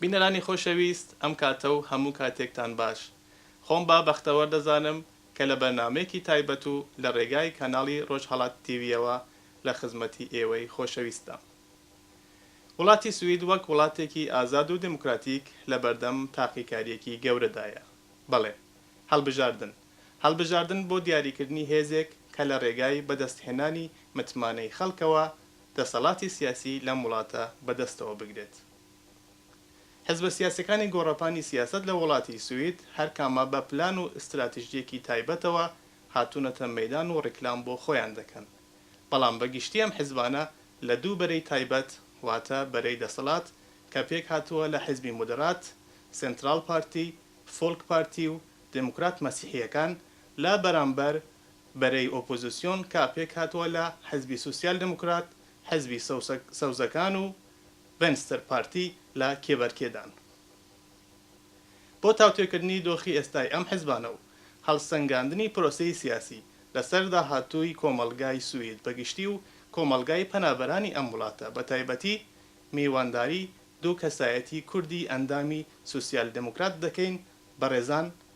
بینەرانی خۆشەویست ئەم کاتە و هەموو کاتێکتان باش. خۆم با بەختەوەر دەزانم کە لە بەرنامەیەکی تایبەت و لە رێگای کاناڵی رۆژهەڵات تیڤییەوە لە خزمەتی ئێوەی خۆشەویستدام. وڵاتی سوید وەک وڵاتێکی ئازاد و دێموکراتیک لە بەردەم تاقیکارییەکی گەورەدایە. بەڵێ. هەڵبژاردن. هەڵبژاردن بۆ دیاریکردنی هێزێک کە لە رێگای بەدەستهێنانی متمانەی خەڵکەوە دەسەڵاتی سیاسی لەم وڵاتە بەدەستەوە بگرێت. حزبە سیاسیەکانی گۆڕەپانی سیاسەت لە وڵاتی سوید هەر کامە بە پلان و ئستراتژیەکی تایبەتەوە هاتونەتە مەیدان و ڕیکلام بۆ خۆیان دەکەن بەڵام بە گشتی ئەم حزبانە لە دوو بەرەی تایبەت واتە بەرەی دەسەڵات کە پێک هاتوە لە حزبی مودڕات، سنتڕاڵ پارتی، فۆڵک پارتی و دموکرات مەسیحیەکان لە بەرامبەر بەرەی ئۆپۆزسیۆن کە پێک هاتوە لە حزبی سوسیال دموکرات، حزبی سەوزەکان و ڤێنستر پارتی لە کێبەرکێدان بۆ تاوتوێکردنی دۆخی ئێستای ئەم حزبانە و هەڵسەنگاندنی پرۆسەی سیاسی لەسەر داهاتووی کۆمەڵگای سوید بەگشتی و کۆمەڵگای پەنابەرانی ئەم وڵاتە بەتایبەتی میوانداری دوو کەسایەتی کوردی ئەندامی سوسیال دێموکرات دەکەین بەڕێزان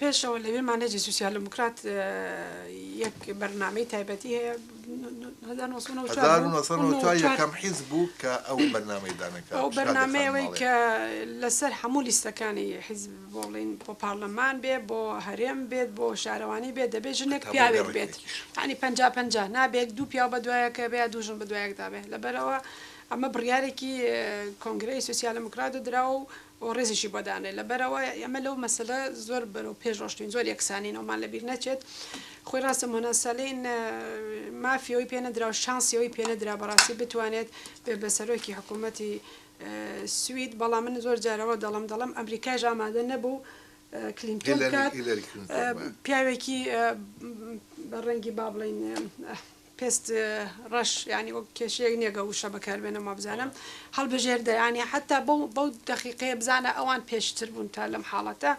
پێشەوە لەوێ مانێجی سوسیالدموکرات یەک بەرنامەی تایبەتی هەیە هەزار نۆ سەد و نەوەد و چوار بوو. هەزار و نۆ سەد و نەوەد و چوار یەکەم حیز بوو کە ئەو بەرنامەی دانەکە ئەو بەرنامەیەوەی کە لەسەر هەموو لیستەکانی حیزب بۆ بڵین بۆ پارلەمان بێ بۆ هەرێم بێت بۆ شارەوانی بێت دەبێت ژنێک پیاوێک بێت ینی پەنج پەنجا پەنجا نابێت دوو پیاو بە دوایەکە بێ دوو ژن بە دوایەکدا بێت لەبەرەوە ئەمە بڕیارێکی کۆنگرەی سوسیالدموکرات و دراوە و و ڕێزیشی بۆ دانێت لەبەرئەوەی ئێمە لەو مەسەلە زۆر بەرەو پێش ڕۆشتوین زۆر یەکسانین ئەومان لەبیر نەچێت خۆی ڕاستە مۆنا سەلین مافی ئەوی پێ نەدرا و شانسی ئەوی پێ نەدرا بەڕاستی بتوانێت بێ بە سەرۆکی حکوومەتی سوید بەڵام من زۆر جارەوە دەڵم دەڵم ئەمریکایش ئامادە نەبوو کلینتۆن بکات هیلاری کلینتۆن وایە. پیاوێکی بە ڕەنگی با بڵێین پێست ڕەش یانی وەک کێشەیەک نیە گە وشە بەکاربێنم وابزانم هەڵبژێر دەیانی حتا بەو بەو دەقیقەیە بزانە ئەوان پێشتر بوون تا لەم حاڵەتە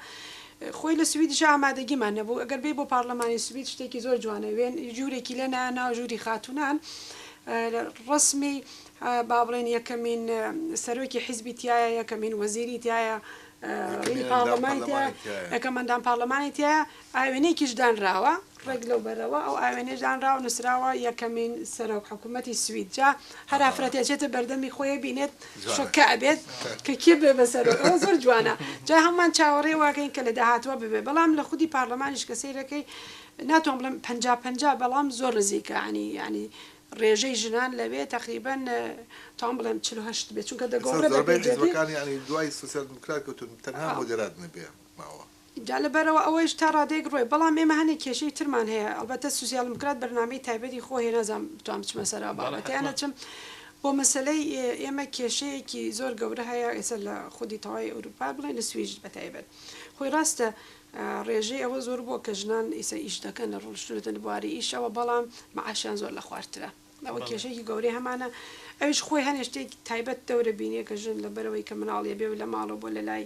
خۆی لە سویدش ئامادەگیمان نەبوو ئەگەر بێ بۆ پارلەمانی سوید شتێکی زۆر جوانە وێن ژوورێکی لێ ناو ژووری خاتونان ڕسمی با بڵێن یەکەمین سەرۆکی حیزبی تایە یەکەمین وەزیری تایە پارلەمانی تایە یەکەمەندان پارلەمانی تایە ئاوێنەیەکیش دانراوە ڕێک لەو بەرەوە، ئەو ئاوێنەیش دانراوە نووسراوە یەکەمین سەرۆک حکوومەتی سوید، جا هەر ئافرەت ئەچێتە بەردەمی خۆی ئەبینێت شۆککە ئەبێت کە کێ بێ بە سەرۆک، ئەوە زۆر جوانە جا هەموومان چاوەڕێ واکەین کە لە داهاتووە ببێت، بەڵام لە خودی پارلەمانیش کە سەیرەکەی ناتوان بڵێم پەنجا پەنجا بەڵام زۆر نزیکە یانی یانی ڕێژەی ژنان لەوێ تەقریبەن توام بڵێم چل و هەشت بێت چونکە دەگۆڕێت بە پێی جێگەی. جا لەبەرئەوە ئەوەیش تا ڕادەیەک ڕوێ بەڵام ئێمە هەنێ کێشەی ترمان هەیە ئەڵبەتە سوسیالمکرات بەرنامەی تایبەتی خۆ هەیە نازام بتوان بچمە سەر ئەو بەڵێ بابەتە یان حەتما. نەچم بۆ مەسەلەی ئێمە کێشەیەکی زۆر گەورە هەیە ئێستا لە خودی تەوای ئەوروپا بڵێ لە سویج بەتایبەت خۆی ڕاستە ئا ڕێژەی ئەوە زۆر بوە کە ژنان ئیسە ئیش دەکەن لە ڕۆشتونەتە لە بواری ئیشەوە بەڵام معاشیان زۆر لە خوارترە ئەوە بەڵێ. کێشەیەکی گەورەی هەمانە ئەویش خۆی هەنێ شتێک تایبەت دەورە بینێ کە ژن لەبەرئەوەی کە مناڵ یەبێ و لە ماڵەو بۆ لە لای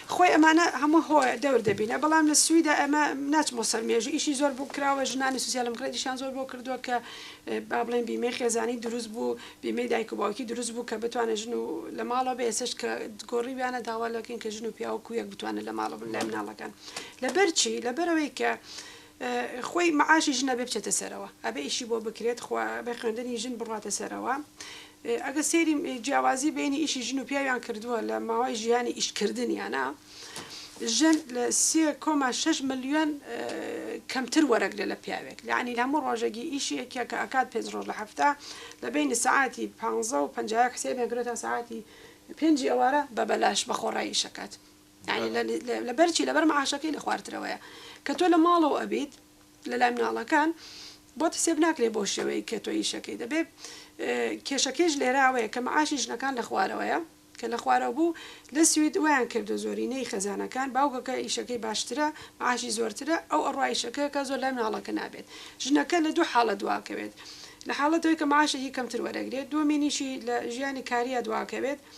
خۆی ئەمانە هەموو هۆ دەور دەبینە بەڵام لە سویدا ئەمە ناچمەوە سەر مێژوو ئیشی زۆر بۆ کراوە ژنانی سوسیالمکرات ئیشیان زۆر بۆ کردووە کە با بڵێن بیمەی خێزانی دروست بوو بیمەی دایک و باوکی دروست بوو کە بتوانێت ژن و لە ماڵەوە بێ ئێسش کە گۆڕیویانە داوا لەکەین کە ژن و پیاوە کویەک بتوانن لە ماڵە بن لای مناڵەکان لەبەرچی لەبەرەوەی کە خۆی معاشی ژنە بێ بچێتە سەرەوە ئەبێ ئیشی بۆ بکرێت خۆ ئەبێ خوێندنی ژن بڕاتە سەرەوە ئەگەر سەیری جیاوازی بینی ئیشی ژن و پیاویان کردووە لە ماوەی ژیانی ئیشکردنیانە ژن لە سێ کۆما شش ملیۆن کەمتر وەرەگرێت لە پیاوێک لەعنی لە هەموو ڕۆژێکی ئیشێکە کە ئەکات پێنج ڕۆژ لە هەفتە لە بینی سعاتی پ و پ حسێبێن کرێتە سعاتی پێنجی ئەوارە بە بەلاش بە خۆڕایی ئیشەکات یانی لەبەر چی لەبەر معاشەکەی لە خوارترەوەیە کە تۆ لە ماڵەوە ئەبیت لە لای مناڵەکان بۆت حسێب ناکرێ بۆ شێوەیەک کە تۆ ئیشەکەی دەبێ کێشەکەیش لێرە ئەوەیە کە معاشی ژنەکان لە خوارەوەیە کە لە خوارەوە بوو لە سوید وایان کردوە زۆرینەی خێزانەکان باوکەکە ئیشەکەی باشترە معاشی زۆرترە ئەو ئەڕوا ئیشەکەکە زۆر لای مناڵەکە نابێت ژنەکە لە دوو حاڵەت دواکەوێت لە حاڵەتەوەی کە معاشێکی کەمتر وەرەگرێت دووەمینیشی لە ژیانی کاریا دواکەوێت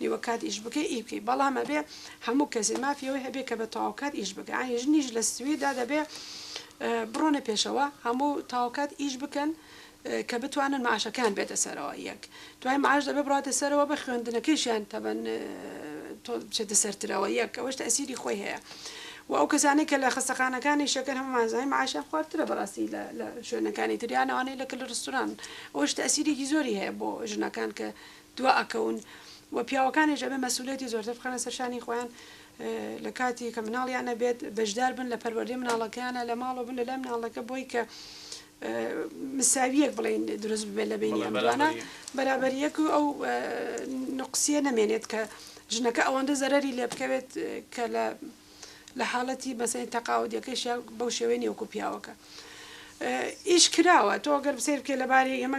نیوە کات ئیش بکەی ئی بکەی بەڵام ئەبێ هەموو کەسێ مافی ئەوەی هەبێ کە بە تەواوکات ئیش بکە یانی ژنیش لە سویددا دەبێ بڕۆنە پێشەوە هەموو تاوکات ئیش بکەن کە بتوانن معاشەکان بێتە سەرەوە یەک دوای معاش دەبێ بڕاتە سەرەوە بە خوێندنەکەیشیان تەبەن تۆ بچێتە سەرترەوە یەک ئەوەش تەسیری خۆی هەیە و ئەو کەسانەی کە لە خستەخانەکانی شەکەر هەمومانزای معاشیان خوارترە بەڕاستی لە شوێنەکانی تریانەوانەی لە کل ڕستوران ئەوش تەسیرێکی زۆری هەیە بۆ ژنەکان کە دوا ئەکەون و پیاوەکانیش ئەبێ مەسئولیەتی زۆرتر بخەنە سەر شانی خۆیان لە کاتی کە مناڵیان ئەبێت بەشدار بن لە پەروەردەی مناڵەکەیانە لە ماڵەوە بن لە لای مناڵەکە بۆی کە مساویەک بڵێین دروست ببێت لە بەینیان دوانە بەرابەریەک و ئەو نوقسیە نەمێنێت کە ژنەکە ئەوەندە زەرەری لێ بکەوێت کە لە لە حاڵەتی مەسەنی تەقاعودیەکەیشیان بەو شێوەی نیە وەکو پیاوەکە ئیش کراوە تۆ گەر بسیر بکەی لەبارەی ئێمە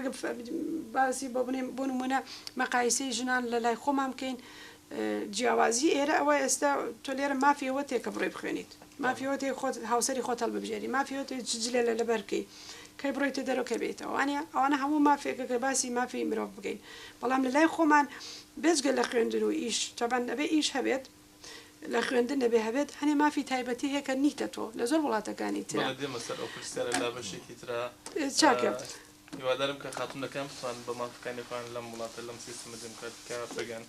باسی بۆ بنێم بۆ نمونە مەقایسی ژنان لە لای خۆمان بکەین جیاوازی ئێرە ئەوە ئێستا تۆ لێرە مافیەوە تێکە بڕێ بخوێنیت مافیەوە تێ خۆت هاوسری خۆتەڵ ببژێری مافیەوە تێ جلە لە لەبەرکەی کەی بڕێتە دەرەکە بێتەوە وانە ئەوانە هەموو مافێکە کە باسی مافی مرۆڤ بگەین بەڵام لە لای خۆمان بێجگە لە خوێندن و ئیش تەبەن ئەبێ ئیش هەبێت لە خوێندن دەبێ هەبێت هەنێ مافی تایبەتی هەیە کە نیتە تۆ لە زۆر وڵاتەکانی ترە. بەڵێ دێمە سەر ئەو پرسیارە لا بەشێکی ترا. چاکە. هیوادارم کە خاتونەکان بتوانن بە مافەکانی خۆیان لەم وڵاتە لەم سیستەمە دێموکراتیکە بگەن.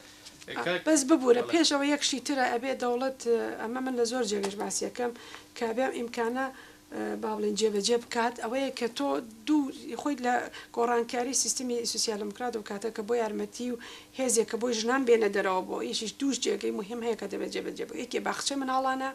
کاک. بەس ببورە پێش ئەوە یەک شتی ترە ئەبێ دەوڵەت ئەمە من لە زۆر جێگەش باسی ئەکەم کە ئەبێ ئەم ئیمکانە با بڵێین جێبەجێ بکات ئەوەیە کە تۆ دوو خۆیت لە گۆڕانکاری سیستمی سوسیال دموکرات و کاتە کە بۆ یارمەتی و هێزێک کە بۆی ژنان بێنە دەرەوە بۆ ئیشیش دووش جێگەی مهم هەیە کە دەبێت جێبەجێ بۆ یەکێ باخچە مناڵانە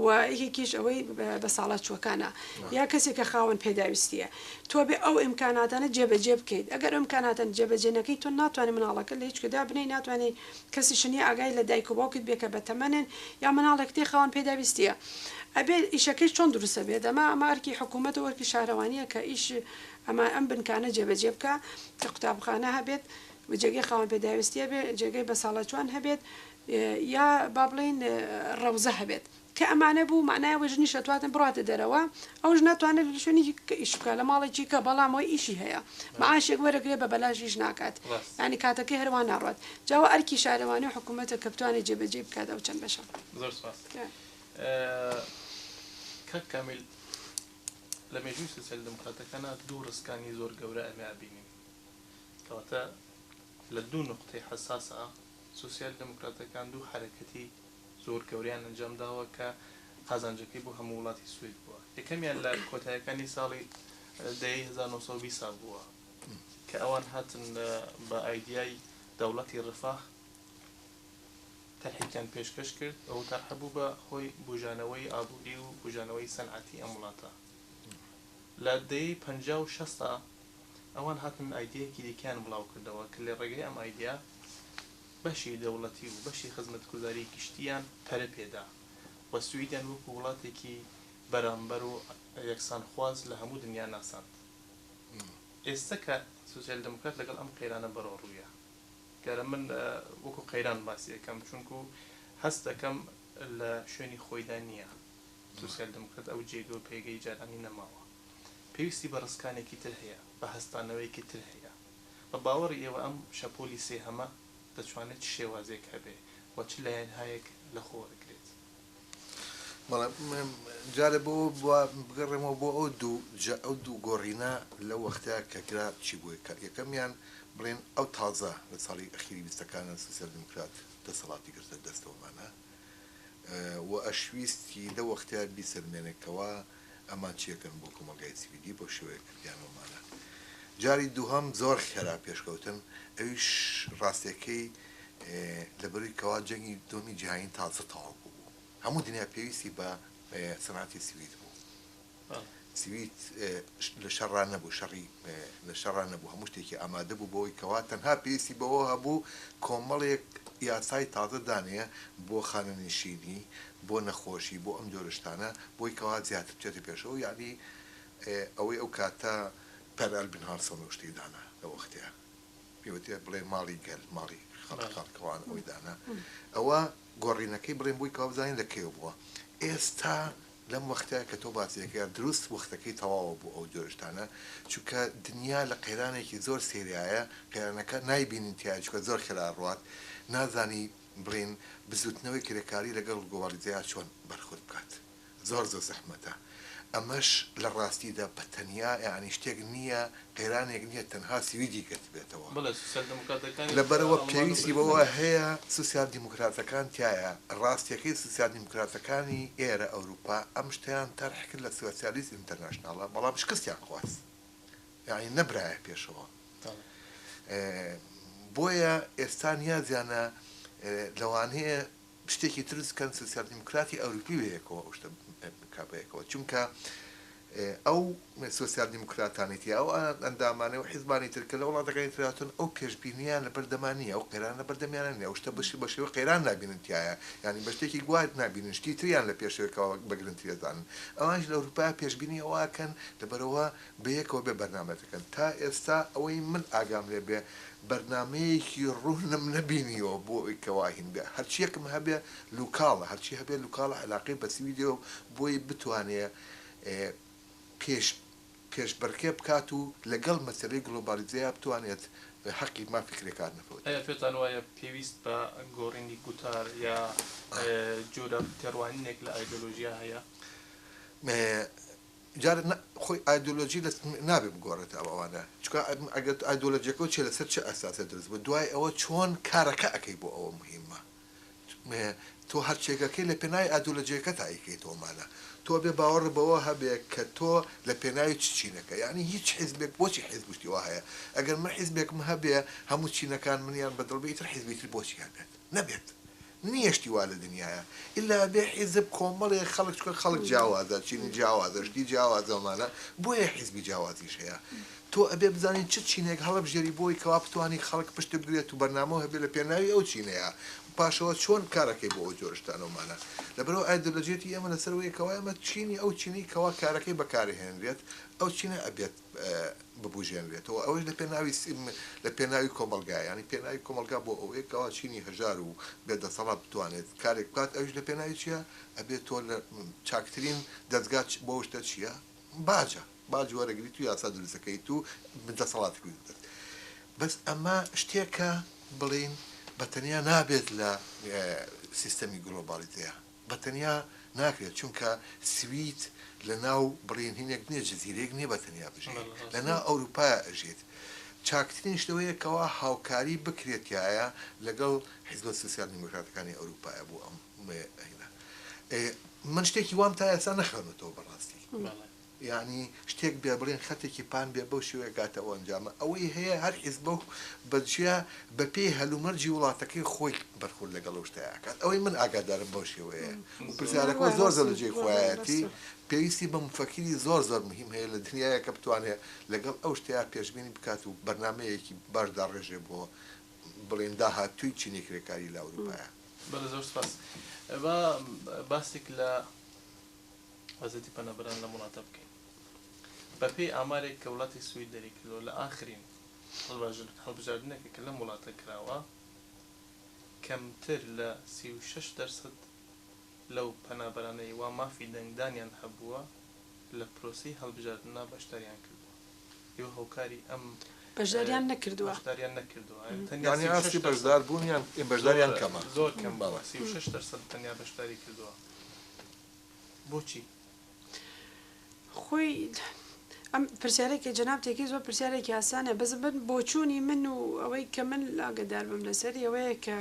و یەکێکیش ئەوەی بە ساڵات چوەکانە یا کەسێک کە خاوەن پێداویستیە تۆ بێ ئەو ئیمکاناتانە جێبەجێ بکەیت ئەگەر ئەم کاناتەن جێبەجێنەکەی تۆ ناتوانانی مناڵەکە لە هیچکەدا بنەی ناتوانانی کەسیش نیە ئاگای لە دایک و باوکت بێ کە بەتەمەنن یا مناڵێک تێ خەون پێداویستیە ئەبێ ئیشەکەیش چۆن دروستە بێ دەما ئەمە ئەرکی حکومەت و ئەرکی شارەوانیە کە ئیش ئەما ئەم بنکانە جێ بەجێ بکا کە قوتابخانە هەبێت و جێگەی خاوەن پێداویستیە بێ جێگەی بەساڵاچوان هەبێت یا با بڵێین ڕەوزە هەبێت. کە ئەمانە بوو مەعنای ئەوەی ژنیش ئەتواتن بڕاتە دەرەوە ئەو ژنە ئەتوانێ لە شوێنێکی کە ئیش بکا لە ماڵێکی کە بەڵام ئەوەی ئیشی هەیە مەعاشێک وەرەگرێ بە بەلاش ئیش ناکات یانی کاتەکەی هەر وا ناڕوات جا ئەوە ئەرکی شارەوانی و حکوومەتە کە بتوانێ جێ بە جێی بکات ئەو چەند بەشە. زۆر سوپاس کاک کامیل لە مێژووی سۆسیال دێمۆکڕاتەکانا دوو ڕسکانی زۆر گەورە ئەمێ ئەبینین کەواتە لە دوو نوقتەی حەساسا، سۆسیال دێموکراتەکان دوو حەرەکەتی زۆر گەورەیان ئەنجام داوە کە قازانجەکەی بۆ هەموو وڵاتی سوید بووە. یەکەمیان لە کۆتایەکانی ساڵی دەیەی هەزار و نۆ سەد و بیست ساڵ بووە کە ئەوان هاتن بە ئایدیای دەوڵەتی رفاه تەرحێکیان پێشکەش کرد. ئەو تەرحە بوو بە هۆی بووژانەوەی ئابووری و بووژانەوەی سەنعەتی ئەم وڵاتە. لە دەیەی پەنجا و شەستا ئەوان هاتن ئایدیایەکی دیکەیان بڵاو کردەوە کە لە ڕێگەی ئەم ئایدیا بەشی دەوڵەتی و بەشی خزمەتگوزاری گشتییان پەرە پێ دا و سویدیان وەکوو وڵاتێکی بەرامبەر و یەکسانخواز لە هەموو دنیا ناساند. ئێستە کە سۆسیال دێموکرات لەگەڵ ئەم قەیرانە بەڕۆڕوویە دیارە من وەکوو قەیران باسی ئەکەم چونکوو هەست ئەکەم لە شوێنی خۆیدا نییە. سۆسیال دیموکرات ئەو جێگە و پێگەی جارانی نەماوە. پێویستی بە ڕسکانێکی تر هەیە، بە هەستانەوەیەکی تر هەیە. بە باوەڕی ئێوە ئەم شەپۆلی سێهەمە دەتوانێت چ شێوازێک هەبێ و چ لایەنهایەک لە خۆ وەرگرێت؟ بەڵێ، جارێ بۆ ئەوە بگەڕێمەوە بۆ ئەو دوو جە، ئەو دوو گۆڕینە لەو وەختە کە کرا چی بوو؟ یەکەمیان بڵێن ئەو تازە لە ساڵی ئەخیری بیستەکانە سۆسیال دیموکرات دەسەڵاتی گرتە دەستەوە مانا، و ئەشویست کی دە وەختیار بیسەلمێنێ کەوا ئەمان چیەکەن بۆ کۆمەلگای سیڤیلی بەو شێوەیە کردیانەوە مانە جاری دووهەم زۆر خێرا پێشکەوتن ئەویش راستێکەی لە بەروی کەوا جەنگی دووەمی جیهانی تازە تەواو بوو بوو هەموو دنیا پێویستی بە سەناتی سوید بوو. سوید لە شەڕا نەبوو، شەڕی لە شەڕا نەبوو، هەموو شتێکی ئامادە بوو بەوەی کەوا تەنها پێویستی بەوە هەبوو کۆمەڵێک یاسای تازە دانێ بۆ خانەنشینی، بۆ نەخۆشی، بۆ ئەم جۆرە شتانە بۆی کەوا زیاتر بچێتە پێشەوە، یەعنی ئەوەی ئەو کاتە پەر ئەلبن هانسۆن ئەو شتەی دانا لە وەختێ پێ وترێ بڵێ ماڵی گەل، ماڵی خەڵک، خاڵکەوان ئەوەی دانا، ئەوە گۆڕینەکەی بڵێن بۆی کەوا بزانین لە کەیەوە بووە، ئێستا لەم وەختە کە تۆ باسی ئەکەی دروست وەختەکەی تەواوە بۆ ئەو جۆرە شتانە چونکە دنیا لە قەیرانێکی زۆر سەیرایە قەیرانەکە نایبینین تیایە چونکە زۆر خێرا ئەڕوات نازانی بڵێین بزوتنەوەی کرێکاری لەگەڵ گۆباریزەیا چۆن بەرخۆرد بکات زۆر زۆر زەحمەتە ئەمەش لە ڕاستیدا بە تەنیا یانی شتێک نییە قەیرانێک نییە تەنها سویدی گرتبێتەوە، لەبەرئەوە پێویستی بەوە هەیە سوسیال دیموکراتەکان تیایا، ڕاستیەکەی سوسیال دیموکراتەکانی ئێرە ئەوروپا ئەم شتەیان تەرح کرد لە سوسیالیست ئینتەرناشناڵە بەڵام شکستیان خواست یانی نەبرایە پێشەوە بۆیە ئێستا نیازیانە لەوانەیە شتێکی ترس کەن سوسیال دیموکراتی ئەوروپی بەیەکەوە ئەو شتە بکا بەیەکەوە چونکە ئەو سوسیال دیموکراتانی تیا ئەو ئەندامانەی و حیزبانی تر کە لە وڵاتەکانی تر هاتوون ئەو پێشبینیان لە بەردەما نیە ئەو قەیران لە بەردەمیانە نیە ئەو شتە بەشی بە شێوەی قەیران نابینن تیایا یانی بە شتێکی گوا نابینن شتی تریان لە پێشەوەکەوە بە گرنتی ئەزانن ئەوانیش لە ئەوروپا پێشبینی ئەوە ئەکەن لەبەرئەوە بەیەکەوە بێ بەرنامە دەکەن تا ئێستا ئەوەی من ئاگام لێ بێ بەرنامەیەکی روونم نەبینیوە بۆ ئەوەی کەوا هینگە هەرچیەکم هەبێ لوکاڵە هەرچی هەبێ لوکاڵە عەلاقەی بە سویدەوە بۆی بتوانێ پێش پێش بڕکێ بکات و لەگەڵ مەسەلەی گڵۆبالیزەیا بتوانێت هەقی مافی کرێکار نەفەوت. ئایا پێتان وایە پێویست بە گۆڕینی گوتار یا جۆرە تێڕوانینێک لە ئایدۆلۆژیا هەیە؟ جارێ نا خۆی ئایدۆلۆژی لە نابێ بگۆڕێت ئەو ئەوانە چونکە ئەگەر ئایدۆلۆژیەکەو چێ لەسەر چ ئەساسێ دروست بوو دوای ئەوە چۆن کارەکە ئەکەی بۆ ئەوە موهیمە تۆ هەرچێکەکەی لە پێناوی ئایدۆلۆژیەکەتا ئەیکەیتەوە مانا تۆ ئەبێ باوەڕ بەوە هەبێ کە تۆ لە پێناوی چ چینەکە یانی هیچ حیزبێک بۆچی حیزب شتی وا هەیە ئەگەر من حیزبێکم هەبێ هەموو چینەکان منیان بە دڵ بێ ئیتر حیزبی تر بۆچی هەبێت نەبێت نیە شتی وا لە دنیایە ئیلا بێ حیزب کۆمەڵێ خەڵک چونکە خەڵک جیاوازە چینی جیاوازە شتی جیاوازە ومانە بۆیە حیزبی جیاوازیش هەیە تۆ ئەبێ بزانی چ چینێک هەڵەبژێری بۆی کەوا بتوانی خەڵک پشت بگرێت و بەرنامەو هەبێ لە پێناوی ئەو چینەیا و پاشەوە چۆن کارەکەی بۆ ئەو جۆرە شتانە ومانە لەبەرئەوە ئایدۆلۆژیەتی ئێمە لەسەر وەیە کەوا ئێمە چینی ئەو چینەی کەوا کارەکەی بەکارئەهێنرێت ئەو چینە ئەبێت ببوژێنرێتەوە ئەوەش لە پێناوی لە پێناوی کۆمەلگا یانی پێناوی کۆمەلگا بۆ ئەوەیە کەوا چینی هەژار و بێ دەسەڵات بتوانێت کارێک بکات ئەوش لە پێناوی چیە ئەبێت تۆ لە چاکترین دەزگا بۆ شتە چیە باجە باج وەرەگریت و یاسا دروستەکەیت و من دەسەڵاتی بگرت بەس ئەمە شتێکە بڵین بە تەنیا نابێت لە سیستەمی گلۆبالیتەیە بە تەنیا ناکرێت چونکە سوید لە ناو بڕینهینێک نیە جزیرەیەک نیە بە تەنیا بژی لە ناو ئەوروپایا ئەژیت چاکترین شتەوەیە کەوا هاوکاری بکرێتایە لەگەڵ حیزبە سوسیال دیمۆکراتەکانی ئەوروپایا بۆ ئەم ئەینا ئێ من شتێکی وام تا ئێستا نەخوێنوەتەوە بەڕاستی. یانی شتێک بێ بڵێن خەتێکی پان بێ بەو شێوەیە گاتە ئەو ئەنجامە ئەوەی هەیە هەر حیزبە و بە جیا بە پێی هەل و مەرجی وڵاتەکەی خۆی بەرخورد لەگەڵ ئەو شتە ئەکات ئەوەی من ئاگادارم بەو شێوەیە و پرسیارەکە زۆر زۆر لە جێی خۆیایەتی پێویستی بە موفەکیری زۆر زۆر مهیم هەیە لە دنیایە کە بتوانێ لەگەڵ ئەو شتەیا پێشبینی بکات و بەرنامەیەکی باش داڕێژێ بۆ بڵێن داهاتووی چینی کرێکاری لە ئەوروپایا. بەڵێ زۆر سپاس با باسێک لە. ئازادی پەنابەران لەم وڵاتە بکەین. بەپێی ئامارێک کە وڵاتی سوید دەریکردەوە لە ئاخرین هەڵبژاردنێکە کە لەم وڵاتە کراوە کەمتر لە سی و شەش دەرسەد لەو پەنابەرانەی وا مافی دەنگدانیان هەبووە لە پرۆسەی هەڵبژاردنا بەشداریان کردووە یۆ هۆکاری ئەم بەشداریان نەکردووە. بەشداریان نەکردووە یانی تەنیا سی و شەش دەرسەد یانی ئاستی بەشداربوونیان بەشداریان کەمە زۆر کەمە سی و شەش دەرسەد تەنیا بەشداری کردووە بۆچی؟ خۆی ئەم پرسیارەی کە جەناب تێکەی زۆر پرسیارێکی ئاسانە بەس بن بۆچوونی من و ئەوەی کە من ئاگەدار بم لەسەری ئەوەیە کە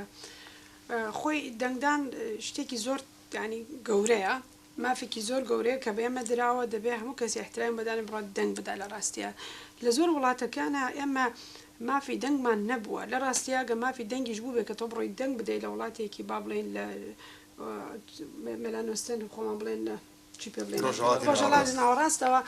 خۆی دەنگدان شتێکی زۆر ینی گەورەیە مافێکی زۆر گەورەیە کە بێمە دراوە دەبێ هەموو کەسی احترام بەدانە بڕات دەنگ بدا لە ڕاستە لە زۆر وڵاتەکانە ئێمە مافی دەنگمان نەبووە لە ڕاستیاگە مافی دەنگیش بوو بێ کە تۆ بڕۆی دەنگ بدەیت لە وڵاتێکی با بڵێن لە مێلانۆستێن خۆمان بڵێن چی پێ بڵێین ڕۆژهەڵاتی ڕۆژهەڵاتی ناوەڕاستەوە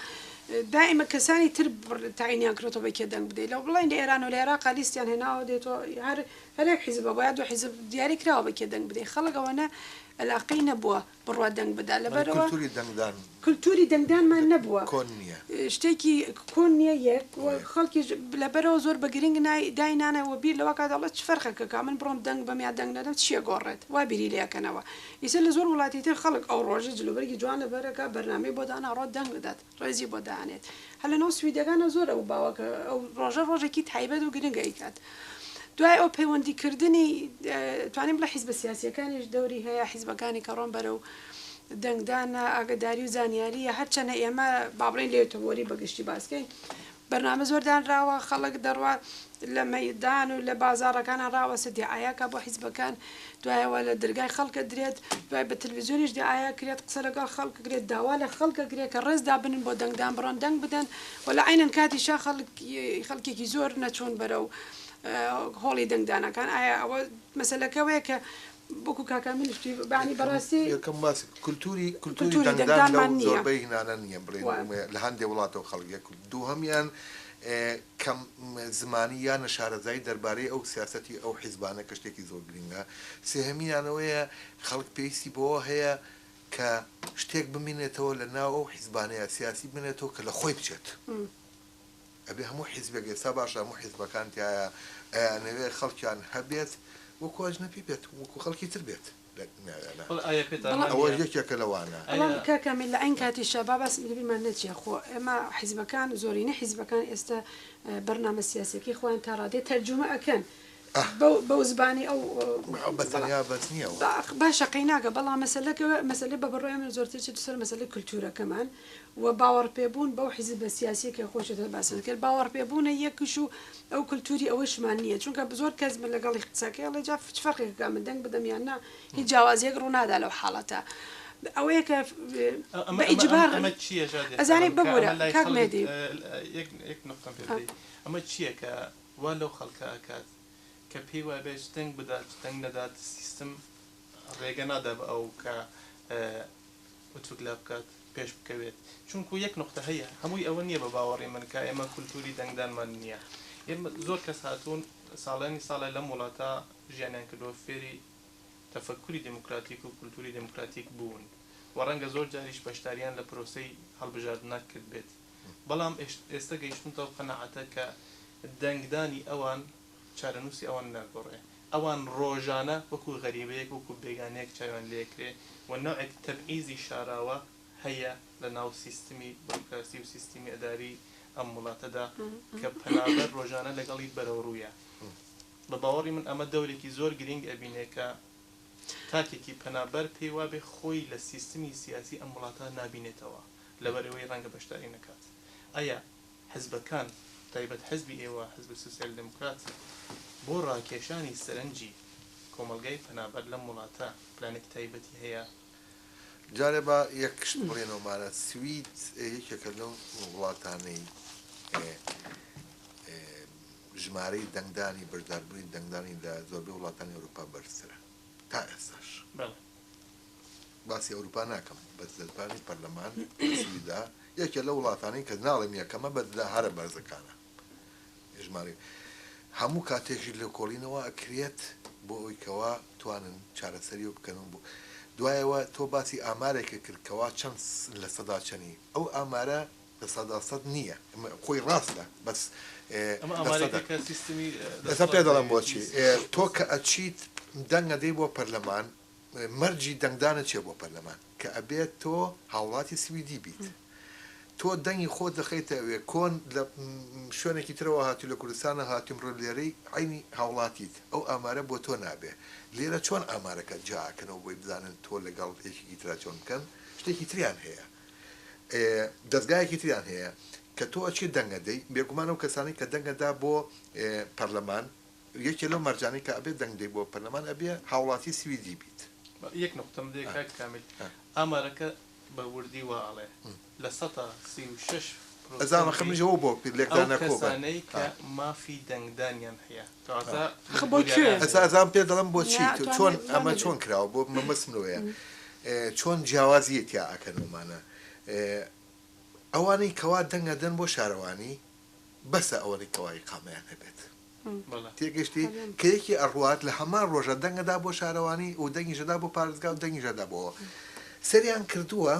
دائیمە کەسانی تر بڕ- تاینیان کرێتەوە بە کێ دەنگ بدەیت لەو بڵێن لە ئێران و لە عێراقا لیستیان هێناوە دێتەوە هەر هەرێک حیزبە بۆ یا دو حیزب دیاری کراوە بە کێ دەنگ بدەیت خەڵک ئەوەنە ئەلاقەی نەبووە بڕوات دەنگ بدا لەبەرەوە کولتوری دەنگدان کلتوری دەنگدانمان نەبووە. کۆن نیە. شتێکی کۆن نیە یەک و خەڵکیش لەبەرئەوە زۆر بە گرینگ نای دای نانێ و بیر لەوە ئەکات دەڵێ چ فەرقێک ئەکا من بڕۆم دەنگ بەم یا دەنگ نەدەم چ ئەگۆڕێت وا بیری لێ ئەکەنەوە ئیتر لە زۆر وڵاتی تر خەڵک ئەو ڕۆژە جلوبەرگی جوان لەبەر ئەکا بەرنامەی بۆ دانا ئەڕۆ دەنگ ئەدات ڕێزی بۆ دانێت هەر لە ناو سویدەکانا زۆر ئەو باوەکە ئەو ڕۆژە ڕۆژێکی تایبەت و گرنگ ئەیکات دوای ئەو پەیوەندی کردنی توانیم بڵێ حیزبە سیاسیەکانیش دەوری هەیە حیزبەکانی کە ڕۆن بەرەو دەنگدانە، ئاگەداری و زانیارییە، هەرچەنە ئێمە با بڵێین لە یۆتۆبۆری بە گشتی باس کەین بەرنامە زۆر دانراوە خەڵک دەڕوا لە مەیدان و لە بازاڕەکانە ڕاوەسە دیعایەکە بۆ حیزبەکان دوایەوە لە دەرگای خەڵکە درێت دوای بە تلویزیۆنیش دیعاە کرێت قسە لەگەڵ خەڵک کرێت داوا لە خەڵکە کرێت کە ڕێزدا بنن بۆ دەنگدان بڕۆن دەنگ بدەن و لە عینەن کاتی شا خەڵک خەڵکێکی زۆر نەچوون بەرە و هۆڵی دەنگدانەکان ئایا ئەوە مەسلەکەوەیە کە وەکو کاکە منیش پێی یانی بەڕاستی یەکەم باسی کولتووری کولتووری کولتووری دەنگدان لەو دەنگدانمان نییە. زۆربەی هینانە نییە بڵێین وە. ئێمە لە هەندێ وڵاتەوە خەڵک یەک دووهەمیان ئێ کەم زمانی یا نەشارەزایی دەربارەی ئەو سیاسەتی ئەو حیزبانە کە شتێکی زۆر گرینگە سێهەمیان ئەوەیە خەڵک پێویستی بەوە هەیە کە شتێک بمینێتەوە لە ناو ئەو حیزبانەیە سیاسی بمێنێتەوە کە لە خۆی بچێت. ئەبێ هەموو حیزبێک ئێستا باشە هەموو حیزبەکان تیایە ئەیانەوێت خەڵکیان هەبێت وەکو ئەجنەپی بێت وەکو خەڵکی تر بێت ئەوەش یەکێکە لەوانە. بەڵام کاک کامیل لە عەین کاتیشا با باسم لەبیرمان نەچێ خۆ ئێمە حیزبەکان زۆرینەی حیزبەکان ئێستا بەرنامە سیاسیەکەی خۆیان تاڕادەیەک تەرجومە ئەکەن ئەه. بەو زبانی ئەو بەڵام. بە تەنیا بەس نیە ئەوە. باشە قەیناکە بەڵام مەسەلەکە مەسەلەی بە بڕوای من زۆرتر چێتە سەر مەسەلەی کلتورەکەمان و باوەڕپێبوون بەو حیزبە سیاسیە کە خۆشت هەیە باسمان کرد باوەڕپێبوونە یەکیش و ئەو کلتوری ئەوەشمان نیە چونکە زۆر کەس من لەگەڵی قسە کەی ئەڵێ جا چ فەرقێک کە من دەنگ بدەم یان نا هیچ جیاوازیەک ڕوونادا لەو حاڵەتە ئەوەیە کە بە ئیجبار ئەمە چیە ژادێ ئەزانێ ببورە کاک مێدی یەک یەک نوقتەم پێ بدەی ئەمە چیە کە وا لەو خەڵکە ئەکات کە پێی وابێت چ دەنگ بدات چ دەنگ نەدات سیستم ڕێگە نادا بە ئەو کە ئوتوک لا بکات پێش بکەوێت چونکو یەک نوقتە هەیە هەمووی ئەوە نییە بە باوەڕی من کە ئێمە کولتوری دەنگدانمان نییە ئێمە زۆر کەس هاتوون ساڵانی ساڵێ لەم وڵاتە ژیانیان کردووە فێری تەفەکوری دێموکراتیک و کولتوری دێموکراتیک بوون و ڕەنگە زۆر جاریش بەشدارییان لە پرۆسەی هەڵبژاردنە کردبێت بەڵام ئێستا گەیشتوونەتە ئەو قەناعەتە کە دەنگدانی ئەوان چارەنووسی ئەوان ناگۆڕێ، ئەوان ڕۆژانە وەکو غەریبەیەک، وەکو بێگانەیەک چاویان لێکرێ و نەوعێک تەبعیزی شاراوە هەیە لە ناو سیستمی بروکراسی و سیستمی ئەداری ئەم وڵاتەدا کە پەنابەر ڕۆژانە لەگەڵی بەرەوڕوویە. بە باوەڕی من ئەمە دەورێکی زۆر گرینگ ئەبینێ کە تاکێکی پەنابەر پێی وابێ خۆی لە سیستمی سیاسی ئەم وڵاتە نابینێتەوە لەبەرئەوەی ڕەنگە بەشداری نەکات. ئایا حزبەکان، بەتایبەت حزبی ئێوە، حزبی سۆسیال دێموکرات، بۆ ڕاکێشانی سەرنجی کۆمەڵگای پەنابەر لەم وڵاتە پلانێکی تایبەتی هەیە؟ جارێ با یەک شت بڵێینەوە مارا، سوید یەکێکە لەو وڵاتانەی ژمارەی دەنگدانی، بەشداربوونی دەنگدانی لە زۆربەی وڵاتانی ئەوروپا بەرزترە تا ئێستاش. باسی ئەوروپا ناکەم بەس دەربانی پەرلەمان سویدا یەکێ لە وڵاتانی کە ناڵێم یەکەمە بەدلا هەرە بەرزەکانە ژماری هەموو کاتێکی لە کۆڵینەوە ئەکرێت بۆ ئەوی کەوا توانن چارەسەری و بکەن بوو دوایەوە تۆ باسی ئامارێکە کردکەوا چەند لە سەدا چەنی ئەو ئامارە لە سەدا سەد نیە خۆی ڕاستە بەس ئەمە ئەمارێکە کە سیستمی ئێستا پێ دەڵێم بۆچی تۆ کە ئەچیت دەنگ ئەدەی بۆ پەرلەمان مەرجی دەنگدانت چیە بۆ پەرلەمان کە ئەبێت تۆ هاوڵاتی سویدی بیت تۆ دەنگی خۆت دەخەیتە ئەوێ کۆن لە شوێنێکی ترەوە هاتی لە کوردستانە هاتی ئەمڕۆ لێرەی عەینی هاوڵاتیت ئەو ئامارە بۆ تۆ نابێ لێرە چۆن ئامارەکە جیا ئەکەنەوە بۆی بزانن تۆ لەگەڵ یەکێکی ترا چۆن بکەن شتێکی تریان هەیە دەزگایەکی تریان هەیە کە تۆ ئەچی دەنگ ئەدەی بێگومان ئەو کەسانەی کە دەنگ ئەدا بۆ پەرلەمان یەکێ لەو مەرجانەی کە ئەبێ دەنگ دەی بۆ پەرلەمان ئەبێ هاوڵاتی سویدی بیت. یەک نوقتە من لێ کاک کامیل ئامارەکە بە وردی وا ئەڵێ لە سەتا سی و شەش پرۆسەنتی ئەو کەسانەی کە مافی دەنگدانیان هەیە ئەزان پێت دەڵێم بۆچی تۆ چۆن ئەمە چۆن کراوە بۆ مەبەستم لەوەیە چۆن جیاوازیە تیا ئەکەن ئەمانە ئەوانەی کەوا دەنگ ئەدەن بۆ شارەوانی بەسە ئەوەنەی کەوا ئیقامەیان هەبێت تێگەشتی کە یەکی ئەڕوات لە هەمان ڕۆژە دەنگەدا بۆ شارەوانی و دەنگیشەدا بۆ پارێزگا و دەنگیشەدا بۆ سەریان کردووە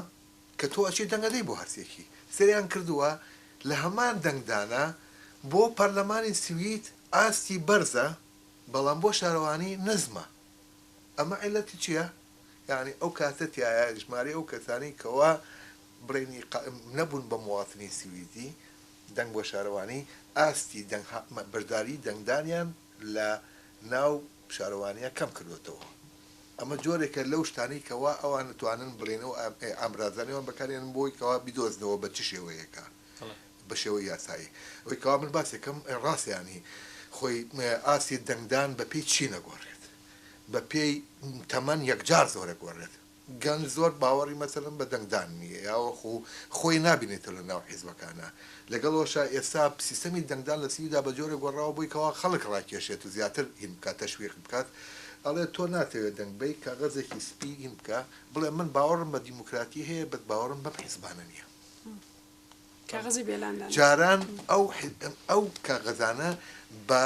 کە تۆ ئەچی دەنگ ئەدەی بۆ هەرسێکی سەریان کردووە لە هەمان دەنگدانە بۆ پەرلەمانی سوید ئاستی بەرزە بەڵام بۆ شارەوانی نزمە ئەمە عیلەتی چیە یانی ئەو کاتە تایە ژمارەی ئەو کەسانەی کەوا بڵێنی قائم نەبوون بە مواطنی سویدی دەنگ بۆ شارەوانی ئاستی دەنگ بەشداری دەنگدانیان لە ناو شارەوانیان کەم کردۆتەوە ئەمە جۆرێکە لەو شتانەی کەوا ئەوان توانن بڵێن ئەو ئامرازانەی وان بەکاریان بۆی کەوا بیدۆزنەوە بە چ شێوەیەکە بە شێوە یاسایی ئەوی کەوا من باسێکەم ڕاستیانی خۆی ئاستی دەنگدان بە پێی چی نەگۆڕێت بە پێی تەمەن یەکجار زۆرە گۆڕێت. گەنج زۆر باوەڕی مەسەلەن بە دەنگدان نییە یاوەخو خۆی نابینێتەوە لە ناو حیزبەکانا. لەگەڵ وەشا ئێستا سیستەمی دەنگدان لە سویدا بە جۆرێک گۆڕاوە بۆی کەوا خەڵک ڕاکێشێت و زیاتر هین بکات تەشویق بکات ئەڵێ تۆ ناتەوێ دەنگ بەی کاغەزێکی سپی هین بکە بڵێ من باوەڕم بە دیموکراتی هەیە بەس باوەڕم بەم حیزبانە نییە. کاغەزی بێلان دانێ. جاران ئەو ئەو کاغەزانە بە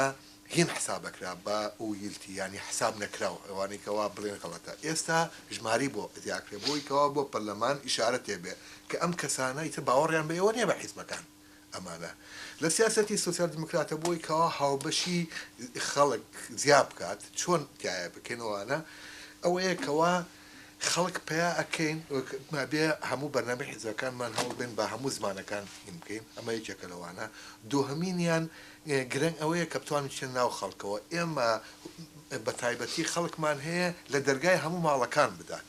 هین حساب ئەکرا بە ئویلتی یانی حساب نەکراو ئەوانەی کەوا بڵێن غەڵەتە ئێستا ژماری بۆ زیاکرێ بۆی کەوا بۆ پەرلەمان ئیشارە تێ بێ کە ئەم کەسانە ئیتر باوەڕیان بە ئێوە نیە بە حیزبەکان ئەمانە لە سیاسەتی سۆسیال دیموکراتە بۆی کەوا هاوبەشی خەڵک زیا بکات چۆن تایە بکەن ئەوانە ئەوەیە کەوا خەڵک پەیا ئەکەین مابێ هەموو بەرنامەی حیزبەکانمان هەوڵ بێن با هەموو زمانەکان یم بکەین ئەمە یەکێکە لەوانە دوهەمینیان گرنگ ئەوەیە کە بتوانین بچینە ناو خەڵکەوە ئێمە بەتایبەتی خەڵکمان هەیە لە دەرگای هەموو ماڵەکان بدات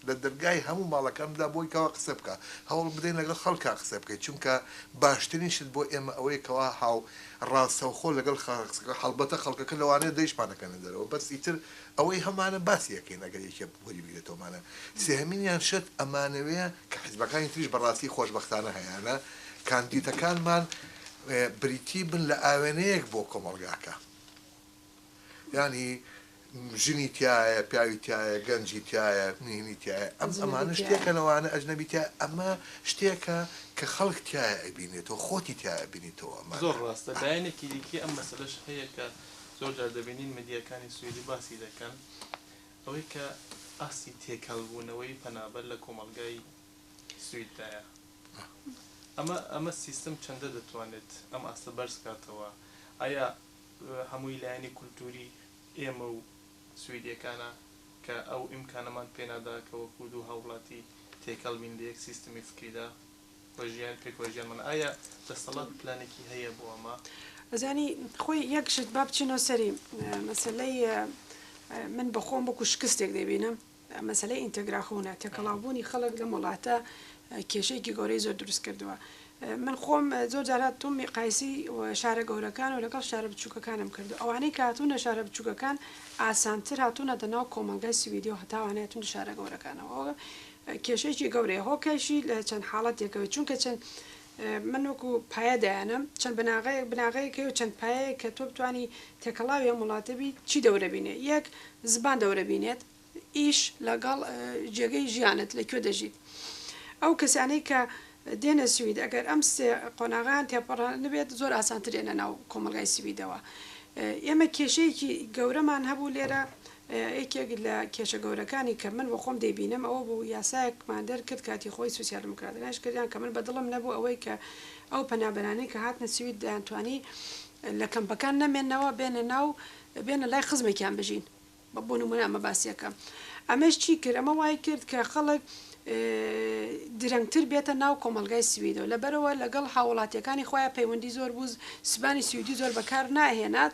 لە دەرگای هەموو ماڵەکان بدا بۆی کەوا قسە بکا هەوڵ بدەین لەگەڵ خەڵکا قسە بکەین چونکە باشترین شت بۆ ئێمە ئەوەیە کەوا هاو ڕاستەوخۆ لەگەڵ خەڵک قسە بکەین هەڵبەتە خەڵکەکە لەوانەیە دەیشمان نەکەنە دەرەوە بەس ئیتر ئەوەی هەمانە باسی ئەکەین ئەگەر یەکێک وەری بگرێتەوە مانە سێهەمینیان شت ئەمانەوێ کە حیزبەکانی تریش بەڕاستی خۆشبەختانە هەیانە کاندیتەکانمان بریتی بن لە ئاوێنەیەک بۆ کۆمەڵگاکە یانی ژنی تایە پیاوی تایە گەنجی تایە نهێنی تایە ئەم ئەمانە شتێکە لەوانە ئەجنەبی تایە ئەمە شتێکە کە خەڵک تایە ئەبینێتەوە خۆتی تایە بینیتەوە ئەمە زۆر ڕاستە لایەنێکی دیکەی ئەم مەسەلەش هەیە کە زۆر جار دەبینین میدیاکانی سویدی باسی دەکەن ئەوەی کە ئاستی تێکەڵ بوونەوەی پەنابەر لە کۆمەڵگای سوید دایە ئەمە ئەمە سیستم چەندە دەتوانێت ئەم ئاستە بەرز کاتەوە ئایا هەمووی لایەنی کولتوری ئێمە و سویدیەکانە کە ئەو ئیمکانەمان پێنادا کە وەکوو دوو هاوڵاتی تێکەڵ بین لە یەک سیستمی فکریدا؟ و ژیان پێک وە ژیان مەڵێ ئایا دەستەڵات پلانێکی هەیە بۆ ئەمە؟ ئەزانی خۆی یەک شت با بچینەوە سەری مەسلەی من بەخۆم بکو شکستێک دەبینم مەسلەی ئینتەگراخونە تێکەڵاوبوونی خەڵک لەم وڵاتە کێشەیەکی گەورەی زۆر دروست کردووە من خۆم زۆر جارات تۆم میقایسی شارە گەورەکان و لەگەڵ شارە بچووکەکانم کردو ئەوانەی کاتونە شارە بچووکەکان ئاسانتر هاتوونەتە ناو کۆمەلگای سویدی و هەتاوانێتون شارە گەورەکانەوە کێشەیەکی گەورەیە هۆکەرشی لە چەند حاڵەتێکەوەی چونکە چەند من وەکو پایە دایانم چەند بناغەیەک بناغەیەک و چەند پایەیەک کە تۆ بتانی تێکەڵاوی ئەم وڵاتە بی چی دەورە بینێ یەک زبان دەورە بینێت ئیش لەگەڵ جێگەی ژیانت لە کوێ دەژیت ئەو کەسانەی کە دێنە سوید ئەگەر ئەم سێ قۆناغیان تێپەڕە نبێت زۆر ئاسانترێنە ناو کۆمەلگای سویدەوە ئێمە کێشەیەکی گەورەمان هەبوو لێرە یەکێک لە کێشە گەورەکانی کە من بۆ خۆم دەیبینم ئەوە بوو یاسایەکمان دەرکرد کاتی خۆی سوسیال دیموکراتەکانیش کردیان کە من بە دڵم نەبوو ئەوەی کە ئەو پەنابەرانەی کە هاتنە سوید دەیانتوانی لە کەمپەکان نەمێنەوە بێنە ناو بێنە لای خزمێکیان بژین بە بۆ نمونە ئەمە باسیەکەم ئەمەش چی کرد ئەمە وای کرد کە خەڵک درەنگتر بێتە ناو کۆمەلگای سویدەوە لە بەرەوە لەگەڵ هاوڵاتیەکانی خۆیان پەیوەندی زۆر بوو زبانی سویدی زۆر بەکار ناهێنات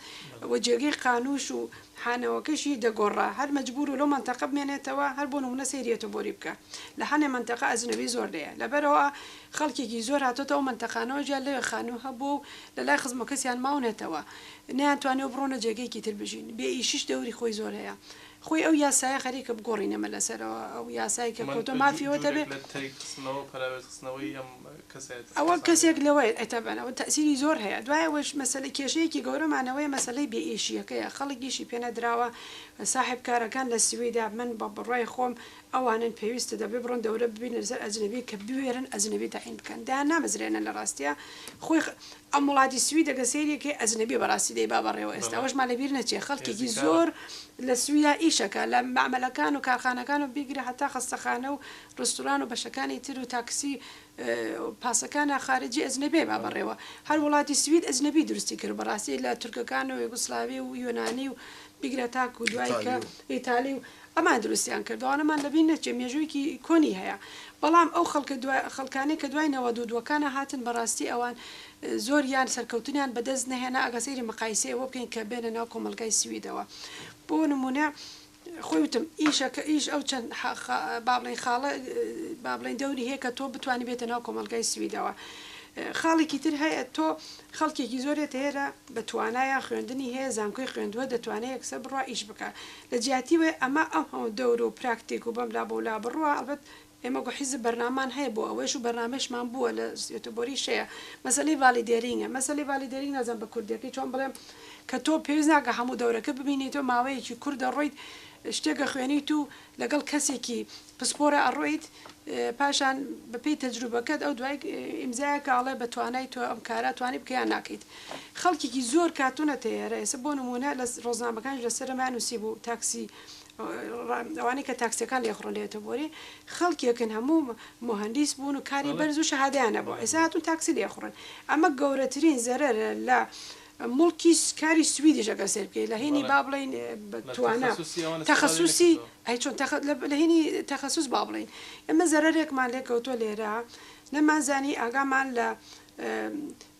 و جێگەی قانوش و حانەوەکەشی دەگۆڕا هەر مەجبوور و لەو مەنتەقە بمێنێتەوە هەر بۆ نموونە سەیری ئەتۆبۆری بکە لە حانێ مەنتەقە ئەجنەبی زۆر لێیە لەبەرئەوە خەڵکێکی زۆر هاتۆتە ئەو مەنتەقانەوە جیا لەوێ خانوو هەبووە و لە لای خزمەکەسیان ماونەتەوە نەیان توانیوە بڕۆنە جێگەیەکی تر بژین بێ ئیشیش دەوری خۆی زۆر هەیە خۆی ئەو یاسایە خەریکە بگۆڕینەمە لەسەرەوە ئەو یاسای کە کۆتۆ مافیەوە دەبێ. ئەوە کەسێک لەوەیە ئەتەبەن ئەوە تەئسیری زۆر هەیە دوای ئەوەش مەسەلە کێشەیەکی گەورەمان ئەوەیە مەسەلەی بێ ئیشیەکەیە خەڵک ئیشی پێ نەدراوە ساحێب کارەکان لە سویدا من بە بڕای خۆم ئەوانن پێویستە دەبێ بڕۆن دەورە ببینە لەسەر ئەجنەبی کە بوێرن ئەجنەبی تەعین بکەن دەیان نامەزرێنن لە ڕاستیا خۆی ئەم وڵاتی سویدە گە سەیرێ کەی ئەجنەبی بەڕاستی دەی با بەڕێوە ئێستا ئەوەشمان لەبیر نەچێ خەڵکێکی زۆر لە سویدا ئیشەکە لە مەعمەلەکان و کارخانەکان و بیگرە هەتا خەستەخانە و ڕستوران و بەشەکانی تر و تاکسی و پاسەکانە خارجی ئەجنەبێ با بەڕێوە هەر وڵاتی سوید ئەجنەبی دروستی کرد بەڕاستی لە تورکەکان و یوگسلاوی و یۆنانی و بیگرە تاکو دوای کە ئیتالی و ئەمان دروستیان کرد ئەوانەمان لە بین نەچێ مێژوویکی کۆنی هەیە بەڵام ئەو خەڵکە دوا خەڵکانەی کە دوای نەوەد و دووەکانا هاتن بەڕاستی ئەوان زۆریان سەرکەوتنیان بەدەست نەهێنا ئەگە سەیری مقایسەی ئەوە بکەین کە بێنە ناو کۆمەڵگای سویدەوە بۆ نمونە خۆی وتم ئیشە کە ئیش ئەو چەند با بڵێین خاڵە با بڵێین دەوری هەیە کە تۆ بتانی بێتە ناو کۆمەڵگای سویدەوە خاڵێکی تر هەیە تۆ خەڵکێکی زۆرێت هێرە بە توانایە خوێندنی هەیە زانکۆی خوێندووە دەتوانێت یەکسەر بڕوا ئیش بکە لە جیاتی وێ ئەمە ئەو هەوە دەور و پراکتێک و بەم لا بۆ لا بڕوە ئەڵبەت ئێمە وەکو حیزب بەرنامەمان هەیە بۆ ئەوەیش و بەرنامەیشمان بووە لە یوتوبۆریش هەیە مەسەلەی ڤالیدێرینگە مەسەلەی ڤالیدێرینگ نازانم بە کوردێکی چۆن بڵێم کە تۆ پێویست ناکە هەموو دەورەکە ببینی تۆ ماوەیەکی کورت دەڕۆیت شتێک ئەخوێنیت و لەگەڵ کەسێکی پسپۆرە ئەڕۆیت پاشان بەپێی تەجروبەکەت ئەو دوای ئیمزایە کاڵێ بە توانای تۆ ئەم کارە توانی بکەیان ناکەیت خەڵکیکی زۆر کاتونە تێرە ئێسە بۆ نمونە لە ڕۆزنامەکان لەسەرمان نووسی بوو تاکسی ئەوانەی کە تاکسیەکان لێخڕۆنێتە بۆری خەڵکێکن هەموو مهندیس بوون و کاری بەرز و شەهادەیان نەبوو ئێستا هاتوون تاکسی لێخڕن ئەمە گەورەترین زەرەرە لە مڵکی کاری سویدیش ئەگەر سێر بکەیت لە هینی با بڵین توانا تەخصوسی ئەی چۆن لە هینی تەخصوس با بڵین ئەمە زەرەرێکمان لێکەوتۆ لێرە نەمانزانی ئاگامان لە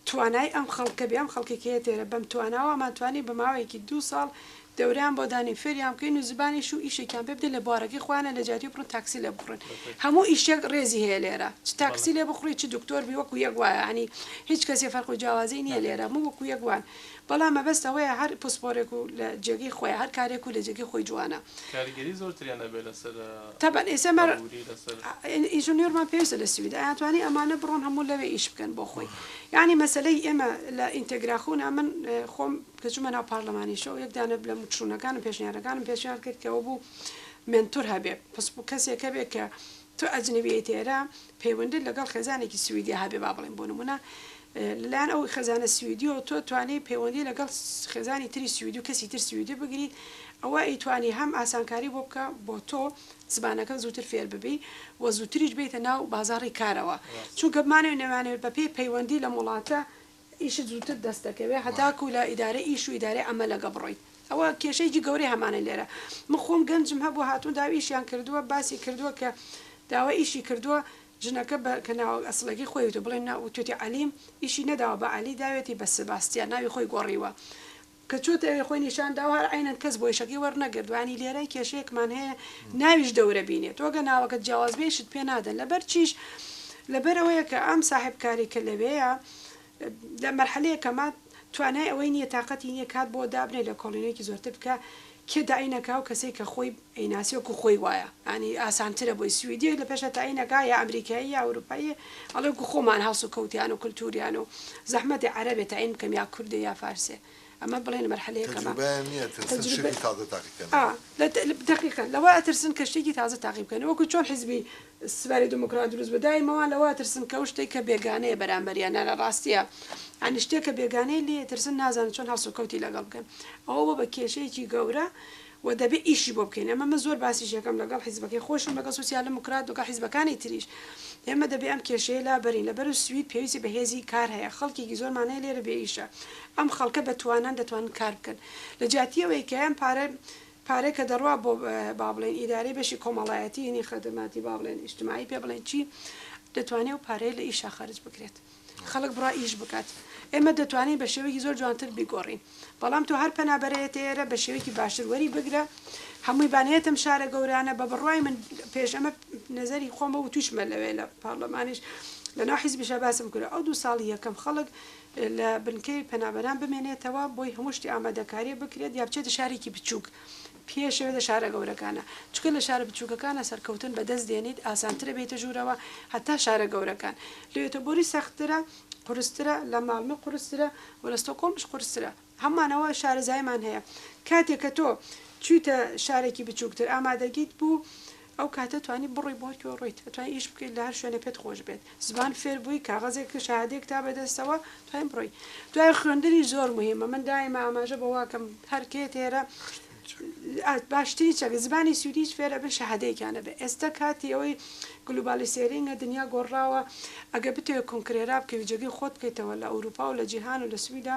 توانای ئەم خەڵکە بێ ئەم خەڵکەی کە هەیەتێرە بەم تواناوە ئەمان توانی بە ماوەیەکی دوو ساڵ دەوریان بۆ دانین فێریان بکەین و زبانیش و ئیشێکیان پێ بدەین لە بوارەکەی خۆیانە لە جاتی بڕن تاکسی لێ بخوڕن هەموو ئیشێک ڕێزی هەیە لێرە چ تاکسی لێ بخوڕی چ دکتۆر بی وەکو یەک وایە یانی هیچ کەسێ فەرق و جیاوازی نیە لێرە هەموو وەکو یەک وان بەڵام مەبەست ئەوەیە هەر پسپۆرێک و لە جێگەی خۆی هەر کارێک و لە جێگەی خۆی جوانە. کاریگەری زۆرتریان ئەبێ لەسەر تەبەن ئێستا مەر ئابوری لەسەر. ئینژنیۆرمان پێویستە لە سوید ئەیانتوانی ئەمانە بڕۆن هەموو لەوێ ئیش بکەن بۆ خۆی یانی مەسەلەی ئێمە لە ئینتەگراخونا من خۆم کە چومە ناو پارلەمانی شەو یەک دانە لە موچونەکانم پێشنیارەکانم پێشنیار کرد کە ئەوە بوو مێنتور هەبێ پسپۆ کەسێک هەبێ کە تۆ ئەجنەبیت ئێرە پەیوەندیت لەگەڵ خێزانێکی سویدیا هەبێ با بڵێین بۆ نموونە لەلایەن ئەو خێزانە سویدیەوە تۆ توانی پەیوەندی لەگەڵ خێزانی تری سویدی و کەسی تر سویدی بگریت ئەوە ئەیتوانی هەم ئاسانکاری بۆ بکە بۆ تۆ زبانەکە زووتر فێر ببی و زووتریش بیتە ناو بازاڕی کارەوە چونکە بمانەوە نەمانەوێت بەپێی پەیوەندی لەم وڵاتە ئیشت زووتر دەست دەکەوێت هەتاکوو لە ئیدارەی ئیش و ئیدارەی عەمەلەگە بڕۆیت ئەوە کێشەیەکی گەورەی هەمانە لێرە من خۆم گەنجم هەبووە هاتوون داوای ئیشیان کردووە باسی کردووە کە داوای ئیشی کردووە ژنەکە بە کە ناوە ئەسڵەکەی خۆی وتووە بڵێ نا وتووتی عەلیم ئیشی نەداوە بە عەلی داوێتی بە سباستیان ناوی خۆی گۆڕیوە کە چۆتە ئەوێ خۆی نیشان داو هەر عەینەن کەس بۆی شەکی وەرنەگرت وانی لێرەی کێشەیەکمان هەیە ناویش دەورە بینێ تۆ گە ناوەکەت جیاواز بێ ئیشت پێ نادەن لەبەر چیش لەبەر ئەوەیە کە ئەم ساحێب کارەی کە لەوێیە لە مەرحەلەیە کە مات توانای ئەوەی نیە تاقەتی نیە کات بۆ دابنێ لە کۆڵینەیەکی زۆرتر بکە کێ تەعین ئەکا و کەسەی کە خۆی ئەیناسێ وەکو خۆی وایە یانی ئاسانترە بۆی سویدیەک لە پێشا تەعین ئەکا یا ئەمریکایی یا ئەوروپاییە ئەڵێ وەکو خۆمان هەڵس و کەوتیان و کلتوریان و زەحمەتە عەرەبێ تەعین بکەم یا کوردێ یا فارسێ ئەمە بڵێن مەرحەلە یەکەمە تەجروبەیان نیە ئەترسن شتێکی تازە تاقی کەنەوە. تەجروبە ئا دەقیقەن لەوە ئەترسن کە شتێکی تازە تاقی بکەنەوە وەکو چۆن حیزبی سپای دیموکرات دروست بوو دایمەوان لەوە ئەترسن کە ئەو شتەی کە بێگانەیە بەرامبەریان نارا ڕاستیە یانی شتێک کە بێگانەیە لێی ئەترسن نازانن چۆن هەڵسوکەوتی لەگەڵ بکەن ئەوە بۆ بە کێشەیەکی گەورە و دەبێ ئیشی بۆ بکەین ئەمە من زۆر باسیش ئەکەم لەگەڵ حیزبەکەی خۆشم لەگەڵ سوسیال دیموکرات لەگەڵ حیزبەکانی تریش ئێمە دەبێ ئەم کێشەیە لابەرین لەبەر سوید پێویستی بە هێزی کار هەیە خەڵکێکی زۆرمان هەیە لێرە بێ ئیشە ئەم خەڵکە بە توانان دەتوانن کار بکەن لە جیاتی ئەوەی کە ئەم پارە پارەی کە دەڕوا بۆ با بڵێین ئیدارەی بەشی کۆمەڵایەتی یەنی خەدماتی با بڵێن ئیشتمایی پێ بڵێن چی دەتوانێ ئەو پارەیە لە ئیشا خەرج بکرێت خەڵک بڕا ئیش بکات ئێمە دەتوانین بە شێوەیەکی زۆر جوانتر بیگۆڕین بەڵام تۆ هەر پەنابەرەیەتە ئێرە بە شێوەیەکی باشتر وەری بگرە هەمووی بانەیەتم شارە گەورانە بە بڕوای من پێش ئەمە نەزەری خۆمە و توشمە لەوێ لە پارلەمانیش لە ناو حیزبیشە باسم کرد ئەو دوو ساڵی یەکەم خەڵک لە بنکەی پەنابەران بمێنێتەوە بۆی هەموو شتی ئامادەکاریە بکرێت یا بچێتە شارێکی بچووک پێش بێتە شارە گەورەکانە چونکە لە شارە بچووکەکانە سەرکەوتن بەدەست دێنیت ئاسانترە بێیتە ژوورەوە هەتا شارە گەورەکان لۆیۆتۆبۆری سەختترە قورسترە لە ماڵمێ قورسترە و لە ستۆکۆڵمیش قورسترە. هەموومانەوە شارەزاییمان هەیە کاتێک کە تۆ چوویتە شارێکی بچووکتر ئامادەگیت بوو ئەو کاتە توانی بڕۆی بۆ هەر کوێ ڕۆیت ئەتوانی ئیش بکەیت لە هەر شوێنێ پێت خۆش بێت زمان فێر بووی کاغەزێک کە شەهادەیەک تا بەدەستەوە توانی بڕۆی دوای خوێندنیش زۆر موهیمە من دایمە ئاماژە بەوە ئەکەم هەر کێ تێرە باشترین چەک زمانی سویدیش فێر ئەبن شەهادەیەکیان هەبێت ئێستا کاتی ئەوەی گلوبالیسێرینگە دنیا گۆڕاوە ئەگەر بتەوێت کۆنکرێرا بکەوی جێگەی خۆت بکەیتەوە لە ئەوروپا و لە جیهان و لە سویدا